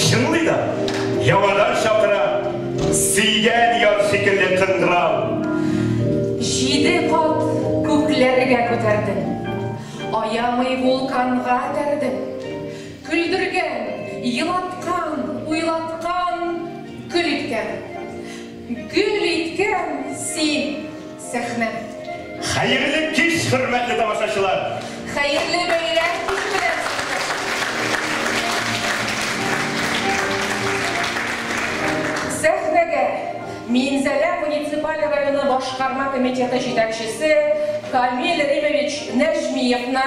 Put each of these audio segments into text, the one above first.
Чынлый да, яңадан чакыра, сөйгән яр шикелле кыңгырау. Җиде кат күкләргә күтәрдең, аямый вулканга этәрдең. Көлдергән, елаткан, уйлаткан, көл иткән. Гөл иткән син сәхнә. Хәерле кич, хөрмәтле тамашачылар! Хәерле бәйрәм көне белән сезне! Сәхнәгә Минзәлә муниципаль районы башкарма комитеты җитәкчесе Камил Римович Нәҗмиевны,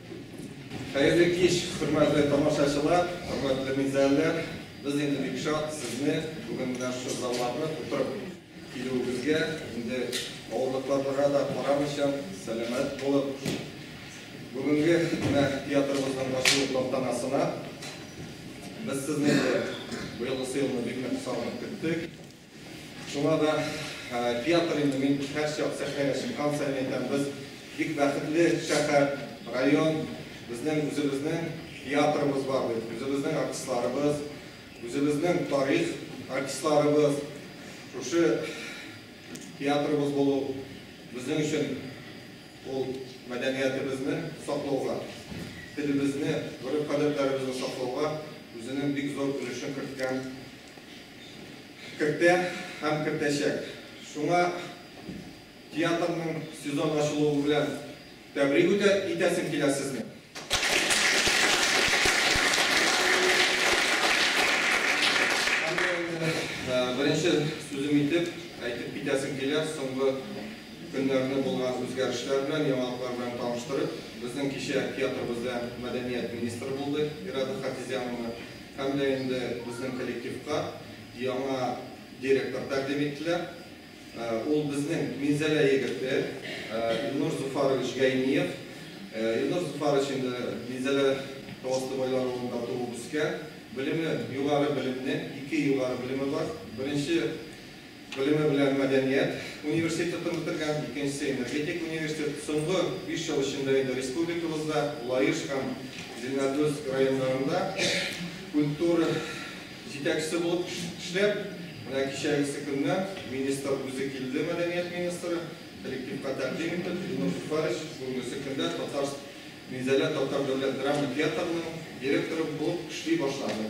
Хәерле кич, хөрмәтле тамашачылар, хөрмәтле минзәлләр! Без инде бик шат сезне бүген менә шушы залларны тутырып килүебезгә, инде авырлыкларга да карамыйча, сәламәт булып, бүгенге менә театрыбызның ачылу тантанасына. Без сезне инде быелгысы елны бик нык сагынып көттек. Шуңа да театр инде мин һәрчак сәхнәгә чыккан саен әйтәм, без бик бәхетле шәһәр, район, безнең үзебезнең театрыбыз бар бит, үзебезнең артистларыбыз, үзебезнең тарих артистларыбыз, шушы театрыбыз булу безнең өчен ул мәдәниятебезне саклауга, телебезне, гореф-гадәтләребезне саклауга үзенең бик зур өлешен керткән Кертә һәм кертәчәк. Шуңа театрның сезон ачылуы белән тәбрик үтә итәсем килә сезне. Һәм дә инде беренче сүзем итеп әйтеп китәсем килә, соңгы көннәрне булган үзгәрешләр белән, яңалыклар белән таныштырып, безнең кичә театрыбызда мәдәният министры булды Ирада Хафизяновна. Һәм дә инде безнең коллективка яңа директор тәкъдим иттеләр. Ул безнең Минзәлә егете, Илнур Зуфарович Гайниев. Илнур Зуфарович инде Минзәлә Таласты Байлар авылында туып үскән. Белеме, югары белемле, ике югары белеме бар. Беренче Белеме белән мәдәният университетын бетергән, икенчесе энергетик университет. Соңгы биш ел эчендә инде республикабызда Лаеш һәм Зеленодольск районнарында культура җитәкчесе булып эшләп, менә кичәгесе көнне министр үзе килде, мәдәният министры, коллективка тәкъдим итеп, Илнур Зөфәрович, бүгенгесе көндә Татар Минзәлә татар дәүләт драма театрының директоры булып эшли башлады.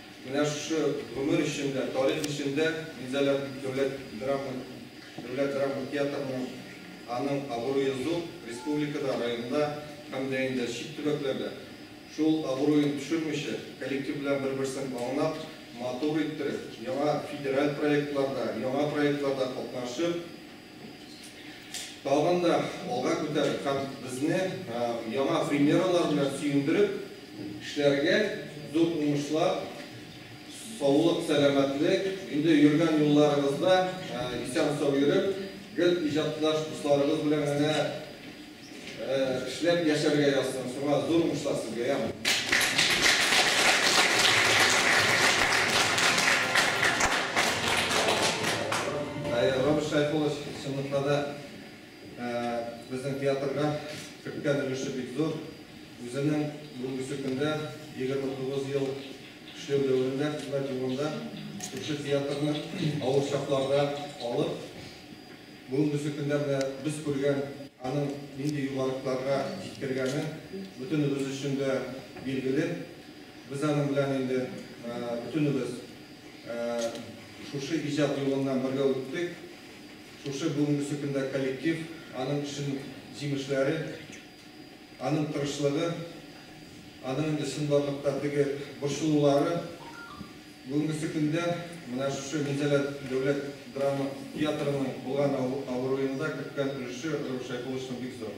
Менә шушы гомер эчендә, тарих эчендә Минзәлә дәүләт драма дәүләт драма театрының аның абруе зур, республикада, районда һәм дә инде чит төбәкләрдә. Шул абруен төшермичә, коллектив белән бер-берсен аңлап, матур иттереп, яңа федераль проектларда, яңа проектларда катнашып, Тагын да алга күтәреп һәм безне яңа премьералар белән сөендереп эшләргә, зур уңышлар, саулык, сәламәтлек, инде йөргән юлларыгызда исән-сау йөреп, гел иҗатташ дусларыгыз белән генә. Эшләп яшәргә язсын, шуңа зур уңышлар сезгә, яме! Роберт Шәйхуллович, чынлыкта да, безнең театрга керткән өлеше бик зур. Үзенең бүгенге көндә 29 ел эшләү дәверендә, хезмәт юлында шушы театрны авыр чакларда алып, Бүгенгесе көндә менә без күргән аның нинди югарылыкларга җиткергәне бөтенебез өчен дә билгеле. Без аның белән инде бөтенебез шушы иҗат юлыннан бергә үттек. Шушы бүгенгесе көндә коллектив, аның эшен җимешләре, аның тырышлыгы, аның инде чынбарлыкта теге борчылулары, Бүгенгесе көндә менә шушы Минзәлә дәүләт драма театрының булган абруенда керткән өлеше Рауил Шәйхулловичның бик зур.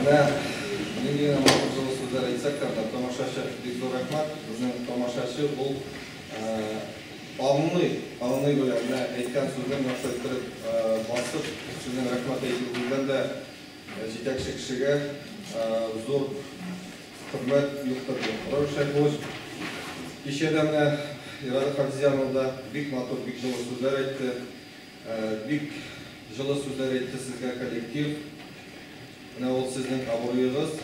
Менә нинди матур җылы сүзләр әйтсәк тә, тамашачы бик зур рәхмәт. Безнең тамашачы ул аңлый, аңлый белә. Менә әйткән сүзен яхшы иттереп басып, сүзен рәхмәт әйтү белән дә җитәкче кешегә зур хөрмәт юктырды. Рәүшә Гуз кичә дә менә Ирада Хафизяновна да бик матур, бик җылы сүзләр әйтте. Бик җылы сүзләр әйтте сезгә коллектив. Менә ул сезнең абруегыз,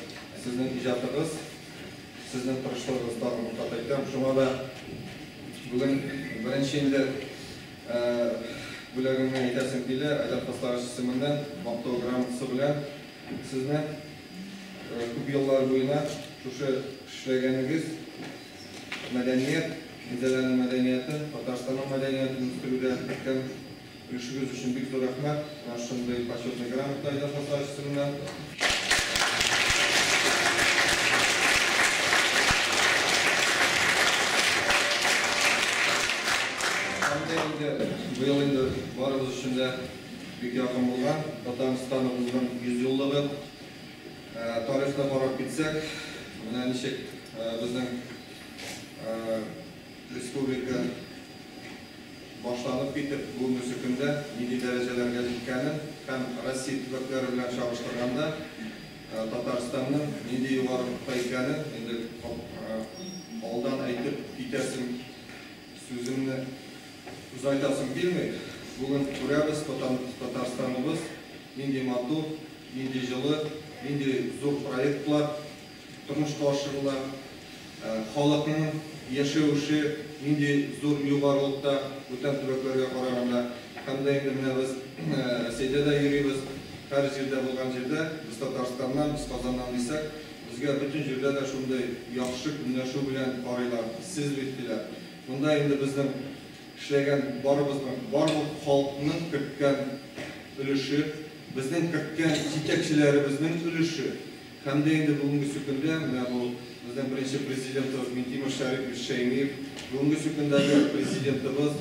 сезнең иҗатыгыз, сезнең тырышлыгыгыз тагын бер кат әйтәм. Шуңа да бүген беренче инде бүләгемне әйтәсем килә, Айдар Хаслович исеменнән Мактау грамотасы белән сезне күп еллар буена шушы эшләгәнегез, Мәдәният, Зәләнең мәдәнияте, Татарстанның мәдәниятын үстерүдә керткән өлешегез өчен бик зур рәхмәт. Менә шундый Почетный грамота Айдар Хасаев исеменә. Һәм дә инде быел инде барыбыз өчен дә бик якын булган Татарстан узган 100 еллыгы. Тарихны карап китсәк, менә ничек безнең республика башланып китеп, бүгенге көндә нинди дәрәҗәләргә җиткәнен һәм Россия төбәкләре белән чагыштырганда Татарстанның нинди югарылыкта икәнен инде алдан әйтеп китәсем Сүземне озайтасым килми, бүген күрәбез, Татарстаныбыз нинди матур, нинди җылы, нинди зур проектлар тормышка ашырыла, халыкның яшәүше нинди зур югарылыкта бүтән төбәкләргә караганда. Һәм дә инде менә без Рәсәйдә дә йөрибез, һәр җирдә булган җирдә без Татарстаннан, без Казаннан дисәк, Безгә бөтен җирдә дә шундый яхшы көнләшү белән карыйлар, сез бит, диләр. Монда инде безнең эшләгән барыбызның, барлык халыкның керткән өлеше, безнең керткән җитәкчеләребезнең өлеше һәм дә инде бүгенгесе көндә менә бу безнең беренче Президентыбыз Минтимер Шәрипович Шәймиев, бүгенгесе көндәге Президентыбыз,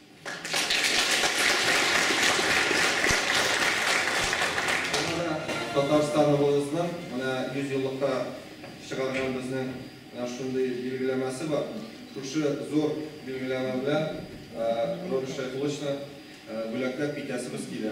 Шуңа да Татарстан рулызның менә 100 еллыкта чыгарган безнең менә шундый билгеләмәсе бар. Шушы зур билгеләмә белән Роберт Шәйхулловичны бүләкләп китәсебез килә.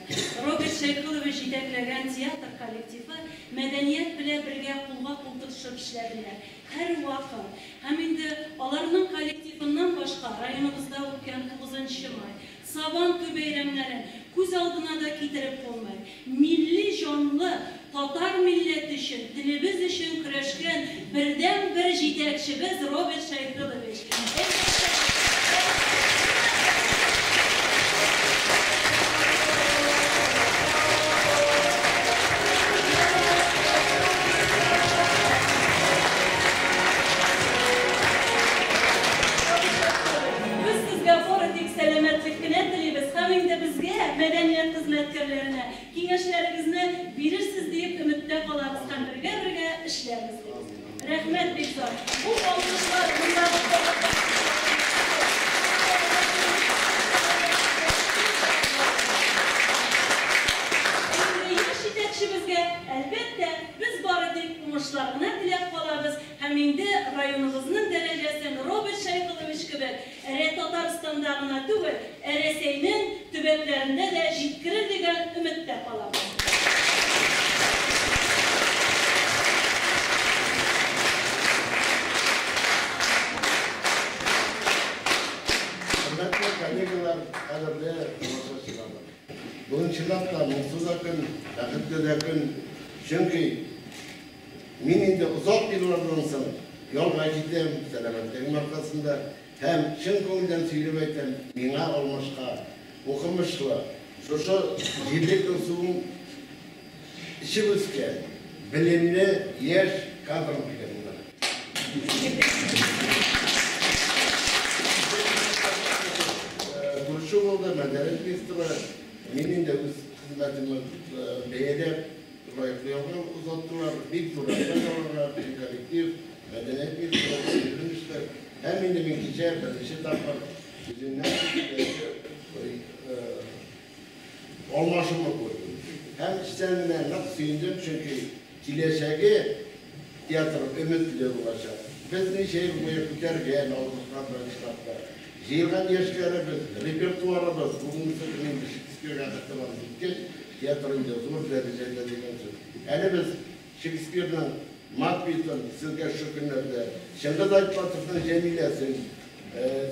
Роберт Шәйхурович җитәкләгән театр коллективы мәдәният белә бергә кулга кул тотышып эшләделәр. Һәрвакыт. Һәм инде аларның коллективыннан башка районыбызда үткән тугызынчы май, Сабан туй бәйрәмнәрен күз алдына да китереп булмый. Милли җанлы Татар милләте өчен, телебез өчен көрәшкән бердәнбер җитәкчебез Роберт Шәйфелович. Әлбәттә, без сезгә хоры тик сәламәтлек кенә телибез һәм инде безгә, мәдәният хезмәткәрләренә, Киңәшләрегезне бирерсез диеп өметтә калабыз һәм бергә-бергә эшләрбез, дибез. Рәхмәт бик зур! Бу алкышлар мондагы халыкка Бүгенге яшь җитәкчебезгә, әлбәттә, без бары тик уңышлар гына теләп калабыз һәм инде районыбызның дәрәҗәсен Роберт Шәйхуллович кебек Әле Татарстанда гына түгел, ә Рәсәйнең төбәкләрендә дә җиткерер дигән өметтә калабыз. Мин инде озак еллардан соң ялга җитәм, сәламәтлегем аркасында. Һәм, чын күңелдән сөйләп әйтәм, миңа алмашка укымышлы, шушы җирлек Кызылсуның эчеп үскән, белемле яшь кадрын биргәннәр. Күрше авылда мәдәният министры, мин инде үз хезмәтемне бәяләп, Лаеклы ялны озаттылар, бик зур рәхмәт аларга, бөтен коллектив, мәдәният министры, милли министр. Һәм инде мин кичә беренче тапкыр үземнән кечкенәсе алмашымны күрдем. Һәм эчтән генә нык сөендем, чөнки киләчәге Театр өметле булачак. Без ничә ел буе күтәргән, алкышкан штатлар. Җыелган яшьләребез, репертуарыбыз, бүгенге көнне инде Шекспирга хәтле барып җиткәч, театр инде зур дәрәҗәдә дигән сүз. Әле без Шекспирның Макбетын, сезгә шушы көннәрдә Чыңгыз Айтматовның Җәмиләсен,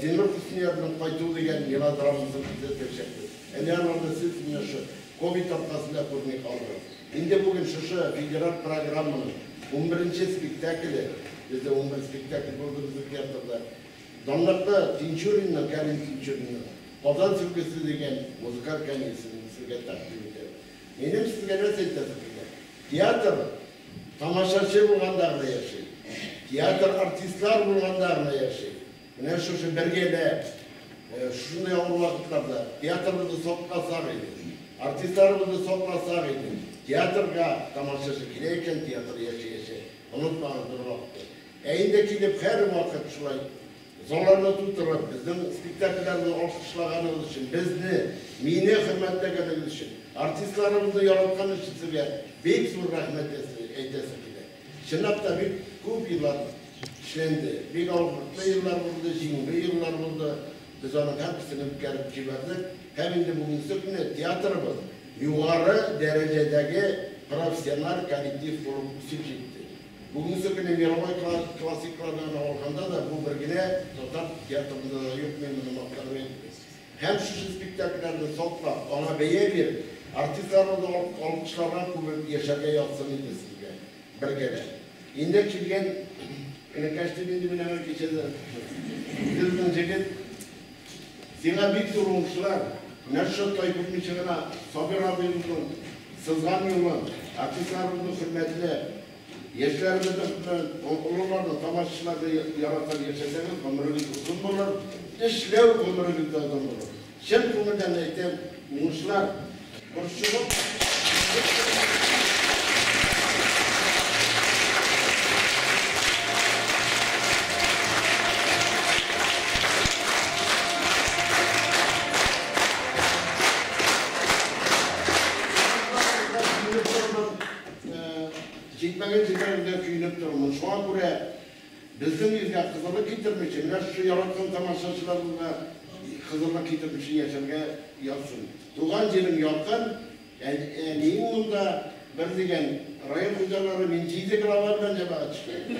Зиннур Хөсниярның Кайту дигән мелодрамасын күзәтәчәкбез. Әле аларны сез менә шул ковид аркасында күрми калды. Инде бүген шушы федераль программаның унберенче спектакле, бездә унбер спектакль булды безнең театрда, данлыклы Тинчуринның, Кәрим Тинчуринның Казан сөлгесе дигән музыкаль комедиясен сезгә тәкъдим итәм. Минем сезгә нәрсә әйтәсе килә? Театр тамашачы булганда гына яши. Театр артистлар булганда гына яши. Менә шушы бер генә шушындый авыр вакытларда театрыбызны сакласак иде, артистларыбызны сакласак иде. Театрга тамашачы килә икән, театр яшәячәк. Онытмагыз бер вакытта. Ә инде килеп һәрвакыт шулай залларны тутырып, безнең спектакльләрне алкышлаганыгыз өчен, безне, мине хөрмәтләгәнегез өчен, артистларыбызны яраткан өчен сезгә бик зур рәхмәт әйтәсе килә. Чынлап та бик күп еллар эшләнде. Бик авырлыклы еллар булды, җиңүле еллар булды. Без аның һәрберсен үткәреп җибәрдек. Һәм инде бүгенге көне театрыбыз югары дәрәҗәдәге профессиональ коллектив булып үсеп җитте. Бүгенге көне мировой классиклардан алганда да бу бер генә татар театрында да юк, мин моны мактанып әйтмим. Һәм шушы спектакльләрне саклап, аңа бәя биреп, артистларыбызны алып алкышларга күмеп яшәргә язсын иде сезгә бергәләп. Инде килгән энекәш дип инде мин аңа кичәдә Сез безнең җегет, сиңа бик зур уңышлар, менә шушы тай күрмичә генә Сабир абыебызның сызган юлын, артистларыбызның хөрмәтенә, Яшьләребезне хөрмәт, олыларны, тамашачыларны яратып яшәсәгез, гомерегез озын булыр, эшләү гомерегез дә озын булыр. Чын күңелдән әйтәм, уңышлар! Борчылып, Җитмәгән җирләрендә көенеп торырмын. Шуңа күрә безнең илгә кызырлык китермичә, менә шушы яраткан тамашачыларыбызга кызырлык китермичә яшәргә язсын. Туган җирем якын, әнием монда, бер дигән район хуҗалары, мин җиде глава белән җәмәгать эшләдем.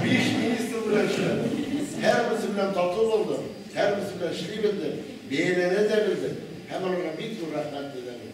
Биш министр белән эшләдем. Һәрберсе белән тату булдым, һәрберсе белән эшли белдем, бәяләнә дә белдем һәм аларга бик зур рәхмәт белдерәм.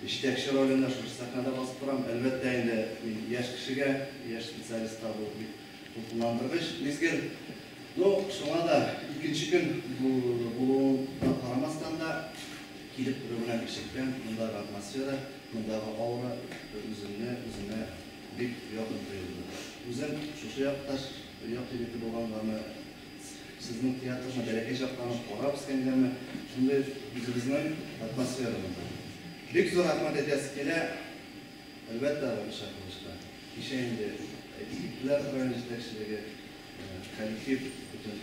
Җитәкче ролендә шушы сәхнәдә басып торам. Әлбәттә инде, мин яшь кешегә, яшь специалистка бу бик дулкынландыргыч мизгел. Ну, шуңа да икенче көн булуына карамастан да, килеп керү белән ишектән мондагы атмосфера, мондагы аура үземне үземә бик якын тоелды. Үзем шушы якташ, як егете булганганны Сезнең театрны бәләкәй чактан ук карап үскәнгәме, шундый үзебезнең атмосферабыз бар. Бик зур рәхмәт әйтәсе килә, әлбәттә, Галимша Кылычка. Кичә инде егетләр район җитәкчелеге, коллектив, бөтен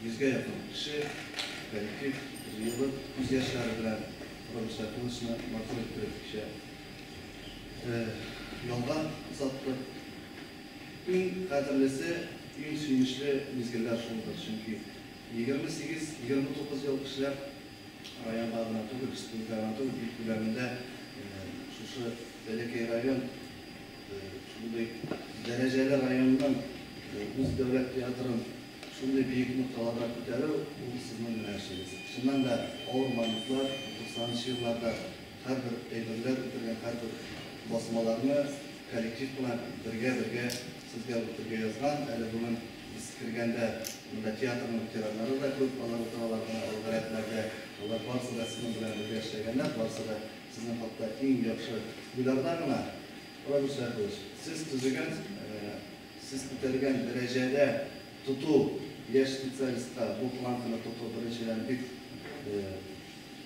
йөзгә якын кеше, коллектив җыелып, күз яшьләре белән Галимша Кылычны матур иттереп кичә ялга озаттык. Иң кадерлесе, иң сөенечле мизгелләр шулдыр, чөнки 28-29 ел эшләп, районга гына түгел, республика гына түгел, ил күләмендә шушы бәләкәй район шундый дәрәҗәле районның үз дәүләт театрын шундый биек нокталарга күтәрү, ул сезнең генә эшегез. Чыннан да, авыр моментла, 90 нчы елларда, Һәрбер әйберләр үтергән һәрбер басмаларны коллектив кына бергә-бергә сезгә үтергә язган. Әле бүген без кергәндә монда театрның ветераннары да күп, алар утыралар менә алгы рәтләрдә. Алар барысы да сезнең белән бергә эшләгәннәр, барысы да сезнең хакта иң яхшы уйларда гына. Равил Шәяхович, сез төзегән, сез күтәргән дәрәҗәдә тоту, яшь специалистка бу планканы тоту, беренчедән, бик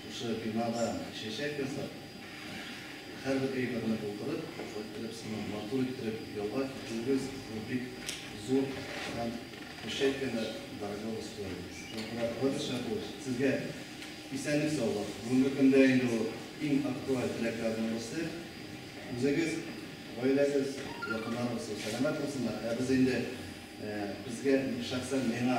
Шушы бинада чәчәк ясап, һәрбер әйберне булдырып, иттереп сыман матур иттереп ялга китерүегез, бу бик зур һәм кеше кенә дорогого стоит. Шуңа күрә кызганыч һәм бу сезгә исәнлек саулык. Бүгенге көндә инде ул иң актуаль теләкләрнең берсе. Үзегез, гаиләгез, якыннарыгыз сау сәламәт булсыннар. Ә без инде безгә, шәхсән миңа,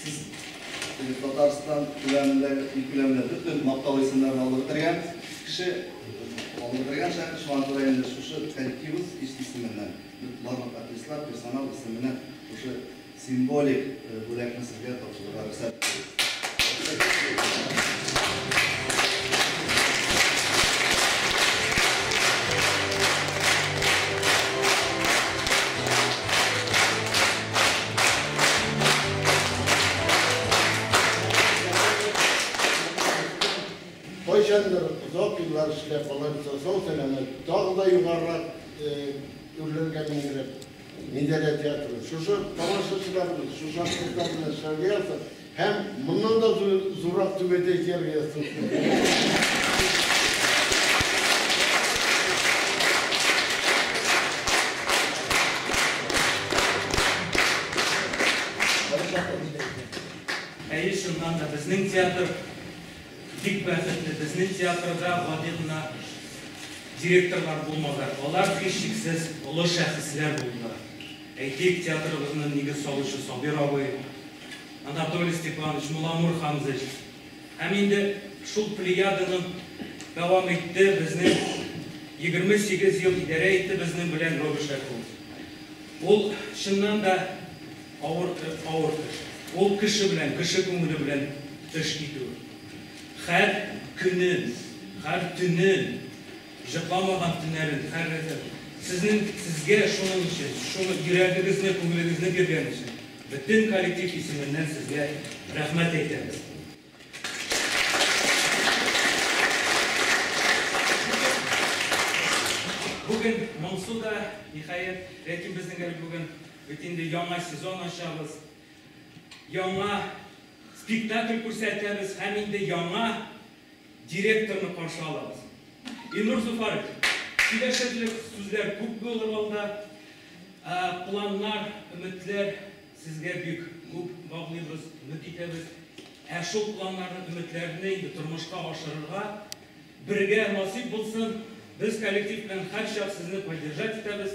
Сез Татарстан күләмендә ил күләмендә бөтен мактау исемнәрен алып бетергән кеше, алып бетергән шәхес, шуңа күрә инде шушы коллективыбыз исеменнән, барлык артистлар, персонал исеменнән шушы символик бүләкне сезгә тапшырырга рөхсәт Кайчандыр озак еллар эшләп, алар сау сәламәт, тагы да югарырак үрләргә мендереп, Миндәлә театры. Шушы тамашачылар, шушы артистлар белән эшләргә язып, Һәм моннан да зуррак түбәдә җыр ясыйсы. Әйе, чыннан да, безнең театр бик бәхетле. Безнең театрда гади гына директорлар булмады. Алар һичшиксез олы шәхесләр булдылар. Әйтик, театрыбызны нигез салучы Сабир абый, Анатолий Степанович, Муламур Хамзыч һәм инде шул плеяданы дәвам итте безнең егерме сигез ел идарә итте безнең белән Роберт Шәркулов. Ул, чыннан да, авыр, авыр кеше. Ул кеше белән, кеше күңеле белән эш итү. Хәр көнен, хәр төнен. Җырламаган төннәрен хәррефен сезнең сезгә шуның өчен, шуны йөрәгегезне, күңелегезне биргән өчен бөтен коллектив исеменнән сезгә рәхмәт әйтәбез. Бүген моңсу да, ниһаять, ләкин безнең әле бүген бит инде яңа сезон ачабыз, яңа спектакль күрсәтәбез һәм инде яңа. Директорны каршы алабыз. Илнур Зуфарович, киләчәклек сүзләр күп булыр алда. Планнар, өметләр сезгә бик күп баглыйбыз, өмет итәбез. Ә шул планнарны, өметләрне инде тормышка ашырырга бергә насыйп булсын. Без коллектив белән һәрчак сезне поддержать итәбез.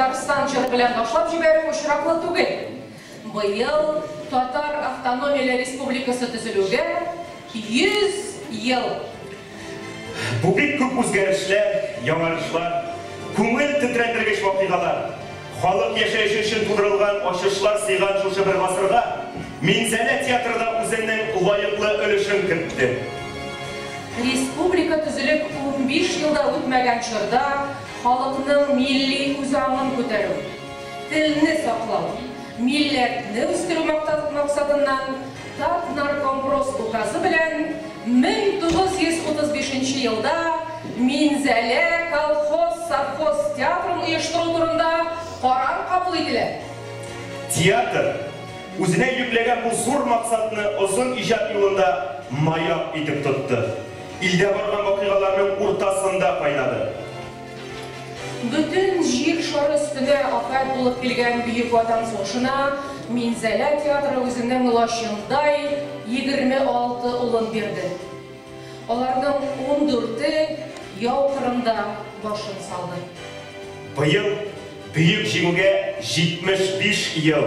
Татарстан җыры белән башлап җибәрү очраклы түгел. Быел Татар автономияле республикасы төзелүгә 100 ел Бу бик күп үзгәрешләр, яңарышлар, күңел тетрәндергеч вакыйгалар, халык яшәеше өчен тудырылган ачышлар сыйган шушы бер гасырга Минзәлә театры да үзенең лаеклы өлешен кертте. Республика төзелеп унбиш ел да үтмәгән чорда халыкның милли үзаңын күтәрү, телне саклау, милләтне үстерү максатыннан, Татнаркомпрос указы белән 1935 нче елда Минзәлә колхоз-совхоз театрын оештыру турында карар кабул ителә. Театр, үзенә йөкләгән бу зур максатны озын иҗат юлында маяк итеп тотты, илдә барган вакыйгаларның уртасында кайнады. Бөтен Җир шары өстенә афәт булып килгән Бөек Ватан сугышына Минзәлә театры үзенең лачындай егерме алты улын бирде. Аларның ундүрте яу кырында башын салды. Быел Бөек Җиңүгә 75 ел.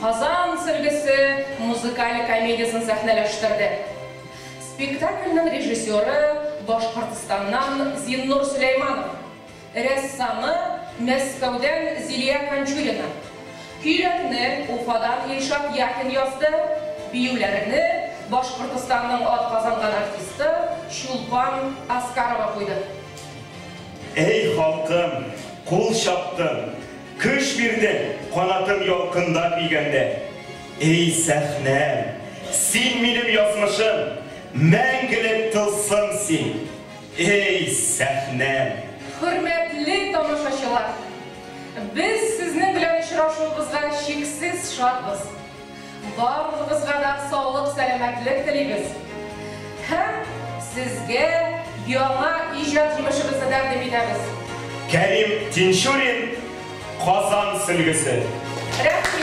Казан сөлгесе музыкаль комедиясен сәхнәләштерде. Спектакльнең режиссеры, Башкортстаннан Зиннур Сөләйманов, рәссамы, Мәскәүдән Зилия Кончурина, көйләрне Уфадан Илшат Яхин язды, биюләрне Башкортстанның атказанган артисты Чулпан Аскарова куйды. Әй халкым, кул чаптым. Көч бирдең, канатым ялкында көйгәндә. Эй, сәхнәм, син минем язмышым, мәңгелек тылсым син, эй, сәхнәм! Хөрмәтле тамашачылар! Без сезнең белән очрашуыбызга чиксез шатбыз! Барыгызга да саулык сәламәтлек телибез һәм сезгә яңа иҗат җимешебезне тәкъдим итәбез. Кәрим Тинчурин, Казан сөлгесе. Рәхмием.